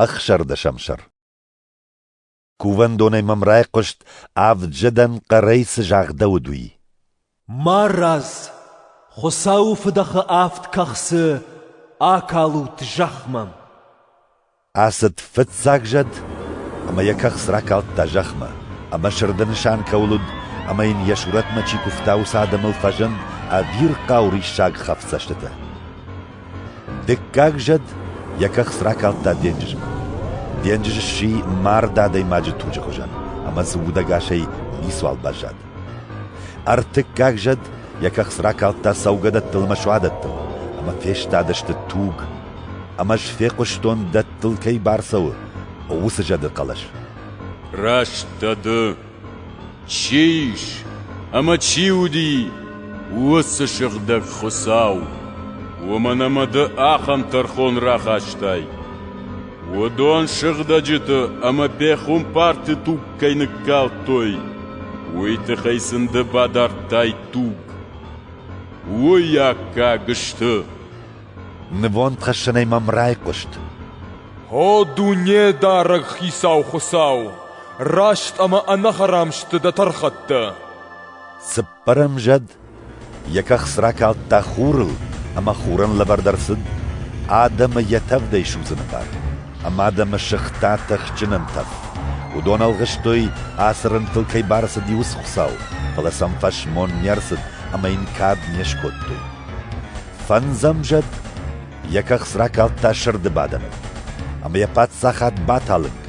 Ӕхсӕрдӕсӕмсӕр Кувӕндонӕй мӕм райхъуыст, авджыдӕн хъӕрӕй цы загъдӕуыд, уый. Марадз! Хуыцауы фыдӕхы авд кӕхцы акалут зӕхмӕ! Ацыд фыццаг зӕд, ӕмӕ йӕ кӕхц ракалдта зӕхмӕ, ӕмӕ сырды нысан кӕуыл уыд, ӕмӕ йын йӕ сурӕтмӕ чи куывта, уыцы адӕмыл фӕзынд ӕвирхъау риссаг хӕфдзӕстытӕ. Дыккаг зӕд йӕ кӕхц ракалдта денджызмӕ. Денджыз сси мард адӕймаджы туджы хуызӕн ӕмӕ дзы удӕгасӕй ницуал баззад. Ӕртыккаг зӕд йӕ кӕхц ракалдта цӕугӕдӕттыл ӕмӕ суадӕттыл, ӕмӕ фестадысты туг, ӕмӕ ӕз фехъуыстон, дӕттыл кӕй бацӕуы уыцы зӕды хъӕлӕс. «Раст дӕ ды, Чи ис ӕмӕ чи уыди уыцы сыгъдӕг Хуыцау, уымӕн ӕмӕ ды ахӕм тӕрхон рахастай? Уыдон сыгъдӕджыты ӕмӕ пехуымпарты туг кӕй ныккалдтой, уый тыххӕй сын ды бадардтай туг. Уый аккаг сты. Нывондхӕссӕнӕй мӕм райхъуыст. О, Дунедарӕг Хицау Хуыцау! Раст ӕмӕ ӕнӕхӕрам сты дӕ тӕрхӕттӕ! Цыппӕр ӕмзӕд йӕ кӕхц ракалдта хурыл ӕмӕ хурӕн лӕвӕрд ӕрцыд адӕмы йӕ тӕвдӕй судзыны бар. Ӕмӕ адӕмы сыгъта тыхджынӕн тӕф. Уыдон ӕлгъыстой, ацы рынтыл кӕй барцыди уыцы Хуыцау, фӕлӕ сӕм фӕсмон не рцыд ӕмӕ йын кад не скодтой. Фӕндзӕмзад йӕ кӕхц ракалдта сырды бадӕныл, ӕмӕ йӕ паддзахад баталынг.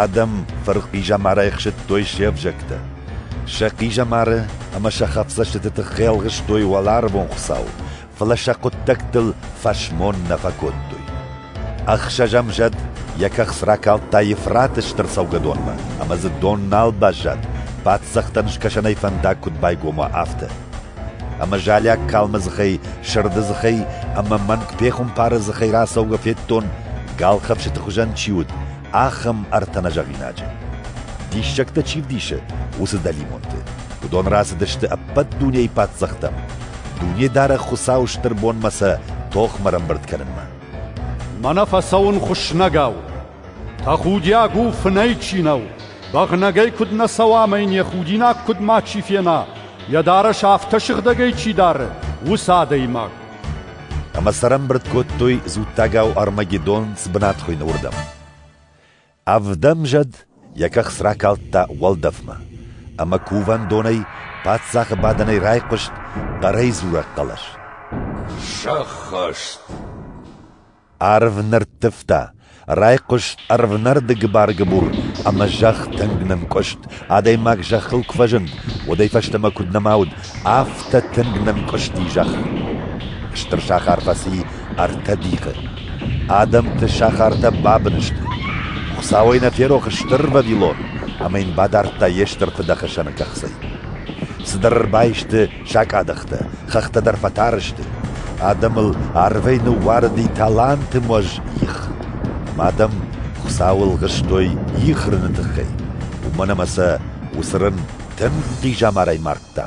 Адӕм фырхъизӕмар ӕхсыдтой се взӕгтӕ. Сӕ хъизӕмары ӕмӕ сӕ хӕфдзӕстыты тыххӕй ӕлгъыстой уӕларвон Хуыцау, фӕлӕ сӕ хъуыддӕгтыл фӕсмон нӕ фӕкодтой. Ӕхсӕзӕмзад йӕ кӕхц ракалдта Ефраты стыр цӕугӕдонмӕ, ӕмӕ дзы дон нал баззад, паддзӕхтӕн скӕсӕнӕй фӕндаг куыд байгом уа, афтӕ. Ӕмӕ залиаг калмы дзыхӕй, сырды дзыхӕй ӕмӕ мӕнг пехуымпары дзыхӕй рацӕугӕ федтон, галхӕфсыты хуызӕн чи уыд, ахӕм ӕртӕ нӕзӕгъинаджы. Диссӕгтӕ чи вдисы, уыцы дӕлимонты. Уыдон рацыдысты ӕппӕт дунейы паддзӕхтӕм, Дунедарӕг Хуыцауы стыр бонмӕ сӕ тохмӕ ӕрӕмбырд кӕнынмӕ. Мӕнӕ фӕцӕуын хуыснӕгау. Тӕхудиаг у, фынӕй чи нӕу, бӕгънӕгӕй куыд нӕ цӕуа ӕмӕ йын йӕ худинаг куыд мачи фена, йӕ дарӕс афтӕ сыгъдӕгӕй чи дары, уыцы адӕймаг. Ӕмӕ цӕрӕнбырд кодтой дзуттагау Армагеддон цы бынатхуыйны уырдӕм. Ӕвдӕм зӕд йӕ кӕхц ракалдта уӕлдӕфмӕ, ӕмӕ кувӕндонӕй паддзахы бадӕнӕй райхъуыст хъӕрӕй дзурӕг хъӕлӕс. Сӕххӕст! Арв нырттывта, райхъуыст ӕрвнӕрды гыбар-гыбур ӕмӕ зӕхх тынг нынкъуыст, адӕймаг зӕххыл куы фӕзынд, уӕдӕй фӕстӕмӕ куыд нӕма уыд, афтӕ тынг нынкъуысти зӕхх. Стыр сахар фӕци ӕртӕ дихы. Адӕмты сахартӕ бабын сты. Хуыцауӕй нӕ ферох Стыр Вавилон, ӕмӕ йын бадардта йе стыр фыдӕхсӕны кӕхцӕй. Цыдӕр ӕрбаисты Закъадӕхтӕ хӕхтӕ дӕр фӕтары сты, адӕмыл арвӕй ныууарыди талантымуӕз их. Ӕмӕ адӕм Хуыцауыл хызтой их рыны тыххӕй, уымӕн ӕмӕ сӕ уыцы рын тынг хъизӕмарӕй мардта.